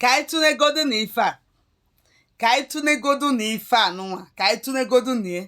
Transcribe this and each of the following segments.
ka anyị tụnegodu na ife a ka anyị tụnegodu na ife a nụnwa ka anyị tụnegodu na ya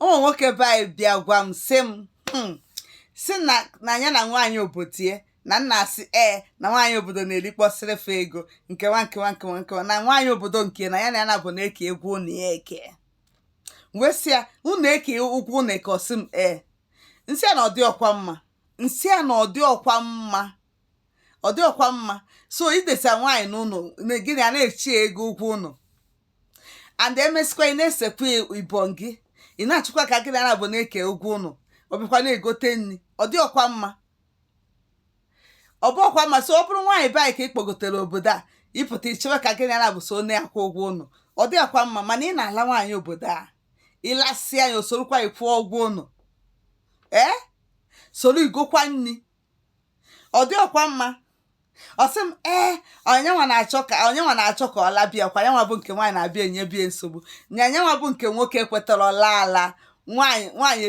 ụmụ nwoke be anyị bịa gwa m sị m hmm, si na na ya na nwaanyị obodo ye na nna asị ee na nwaanyị obodo na-erikpọsịrị fa ego nkewa nkewa nkewa nkewa na nwaanyị obodo nke na ya na ya naabọ na-eke ụgwọ ụnọ ya eke wee sị ya unu eke ụgwọ ụnọ eke ọ sị m ee m sị a na ọ dịrọkwa mma m sị a na ọ dịrọkwa mma ọ dịrọkwa mma so i dese nwaanyị n'ụnọ na gị na ya na-echi ya ego ụgwọ ụnọ and emesikwa ị na-esekwa ibon gị ị na-achọkwa ka gị na ya naabọ na-eke ụgwọ ụnọ ọ bịakwa na-egote nri ọ dịrọkwa mma ọ bụrọkwa mma so ọ bụrụ nwaanyị be anyị ka ị kpọgotere obodo a ị pụta i chewe ka gị na ya naabọ so na-akwụ ụgwọ ụnọ ọ dịrọkwa mma mana ị na-ala nwaanyị obodo a ị lasịa ya o sorokwa ị kwụọ ụgwọ ụnọ ee soro i gokwa nri ọ dịrọkwa mma ọ sị m ee na yanwa na-achọ ka na yanwa na-achọ ka ọ laba ya ka yanwa bụ nke nwaanyị na-abịa enyebe ya nsogbu na yanwa bụ nke nwoke kwetara ọla ala nwaanyị nwaanyị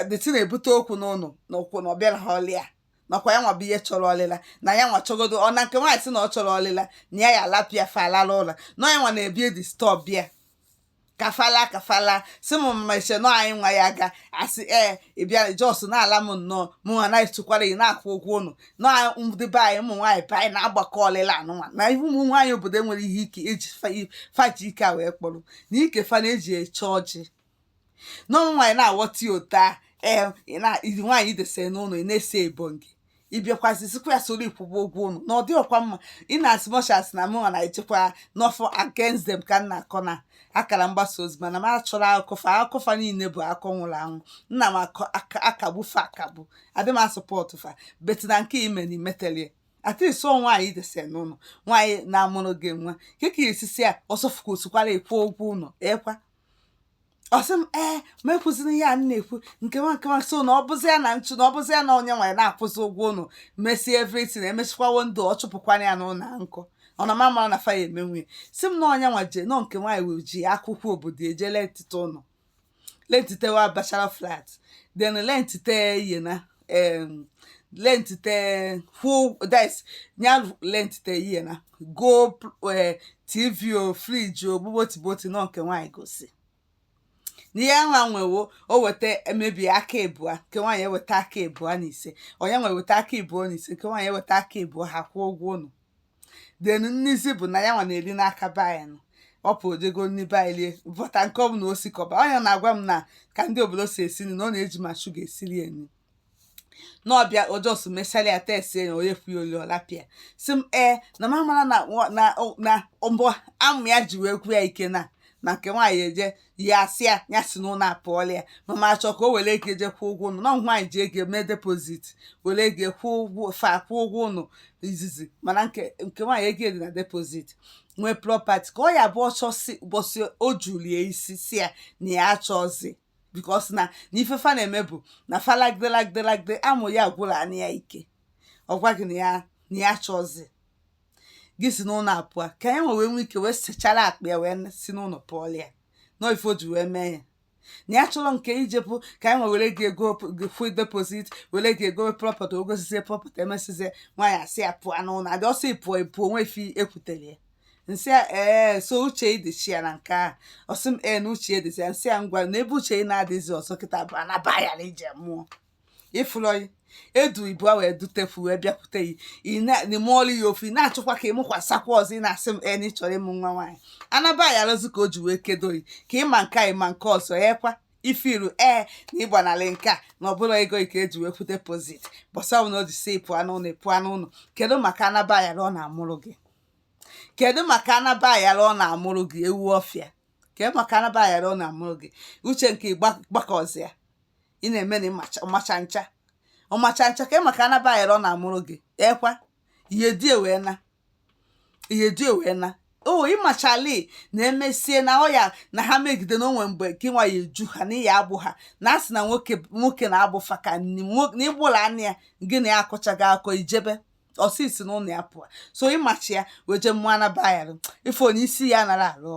dịtị na-ebute okwu n'ụnọ na ụkwụ na ọbịa na ọlịa nakwa ya nwa bịa chọrọ ọlịla na ya nwa chọgodo ọ na nke nwaanyị sị na ọ chọrọ ọlịla na ya ya alapịa fa alala ụla na ya nwa na-abịa edisturb ya ka fa laa ka fa laa sị m mmeche nọ anyị nwa ya ga asị ee ị bịara just na-ala m nnọọ mụ nwa na-esokwara ị na-akwụ ụgwọ ụnọ na ndị be anyị ụmụ nwaanyị be anyị na-agbakọ ọlịla anụnwa na ihe ụmụ nwaanyị obodo nwere ihe ike eji fa- fa ji ike a wee kpọrọ na ike fa na-eji eche ọjị na ụmụ nwaanyị na-aghọta ya otu a ee ị na- iri nwaanyị i dese n'ụnọ ị na-ese ebon gị ị bịakwazi sịkwa ya soro ị kwụọ ụgwọ ụnọ na ọ dịrọkwa mma in as much as na mụnwa na-echekwa n'ọfọ against them ka m na-akọ na akara mgbasa ozi mana m achọrọ akụkọ fa akụkọ fa niile bụ akọ nwụrụ anwụ nna m akọ- aka- akagbu fa akagbu adị m asupport fa but na nke ime na imetelie atịs ọ nwaanyị dese n'ụnọ nwaanyị na-amụrụ gị nwa nke ka esisi a ọsọfụka o sokwara ị kwụọ ụgwọ ụnọ ekwa ọ sị m ee ma ekwuzina ihe a na-ekwu nkewa nkewa so na ọ bụzi ya na nchụ na ọ bụzi ya na onye nwaanyị na-akwụzi ụgwọ ụnọ mesie everything emesịkwa wo ndụ ọ chụpụkwana ya n'ụnọ nkụ ọ na mama na faya eme nwunye sị m na yanwa jee nọ nke nwaanyị wee ji akwụkwọ obodo eje lentite ụnọ lentitewa bachelor flat then lentite yena um, lentite nya lentite yena go uh, tv o fridge o gbogbotigboti na nke nwaanyị gosi na yanwa nwe wo o weta maybe aka ebua nke nwaanyị eweta aka ebua na ise yanwa eweta aka ebua na ise nke nwaanyị eweta aka ebua ha kwụọ ụgwọ ụnọ then n'izizi bụ na ya nwa na-eri n'aka be anyị nọ ọ pụ o jego nri be anyị rie but nke ọ bụla o sikọba onye na-agwa m na ka ndị obodo si esi nri na ọ na-eji ma shuga esiri ya nri na ọ bịa ọ just mesara ya test ya onye fụ ya o lie ọ rapụ ya sị m ee na m amara na nwa- na na mbọ amụ ya ji wee gwụ ya ike na na nke nwaanyị eje ya asị ya ya si n'ụlọ pụọlụ ya ma ma achọ ka o were ego eje kwụọ ụgwọ ụnọ na ọ nwaanyị ji ego mee deposit were ego kwụọ ụgwọ fa kwụọ ụgwọ ụnọ izizi mana nke nke nwaanyị ego dị na deposit nwee property ka ọ ya bụ ọsọ si ụbọchị o julie isi sị ya na ya achọzi because na na ife fa na-eme bụ na fa lagide lagide lagide amụ ya gwụrụ anị ya ike ọ gwa gị na ya na ya achọzi gị si n'ụlọ apụa ka ya nwe wee nwee ike wee sechara akpa ya wee si n'ụlọ pụọ ya na ife o ji wee mee ya na ya chọrọ nke ijepụ ka anyị nwe were gị ego full deposit were gị ego property o gosizie property emesizie nwaanyị asị ya pụọ n'ụlọ adị ọsọ ịpụọ ịpụọ o nwe ife ekwutere ya nsị ya ee so uche ịdịchi ya na nke a ọ sị m ee na uche ịdịzi ya nsị ya ngwa na ebe uche ị na-adịzi ọzọ kịta bụ anaba ya na ije mụọ ịfụlọyị edu ibu a wee dutefu wee bịakwute yi ị mụọlụ ya ofu ị na-achọkwa ka ị mụkwasakwa ọzọ ị na-asị m en ị chọrọ ịmụ nwa nwaanyị anaba ya alụzi ka o ji wee kedo yi ka ịma nke a ịma nke ọzọ ya kwa ị fụrụ ee na ịgbanalị nke a na ọ bụrụ ego i ka e ji wee kwụọ deposit ụbọsị ahụ na o ji si pụọ n'ụlọ ị pụọ n'ụlọ kedu maka anaba ya ọ na-amụrụ gị kedu maka anaba ayara ọ na-amụrụ gị ewu ọfịa kedu maka anaba ayara ọ na-amụrụ gị uche nke gbakọzịa ị na-eme na ọmacha ncha ọmacha ncha kee maka anaba ayịrọ na-amụrụ gị ekwa ihe di ewee na ihe di ewee na o ịmachali na emesie na ọ ya na ha megide na onwe mgbe gị nwa ya eju ha na ya agbụ ha na asị na nwoke nwoke na-agbụ fa ka na ịgbụla anya ya gị na ya akọchaghị akọ ijebe ọ sị si n'ụlọ ya pụọ so ịmachi ya wee jee mụọ anaba ayịrọ ife onye isi ya nara arụ ọrụ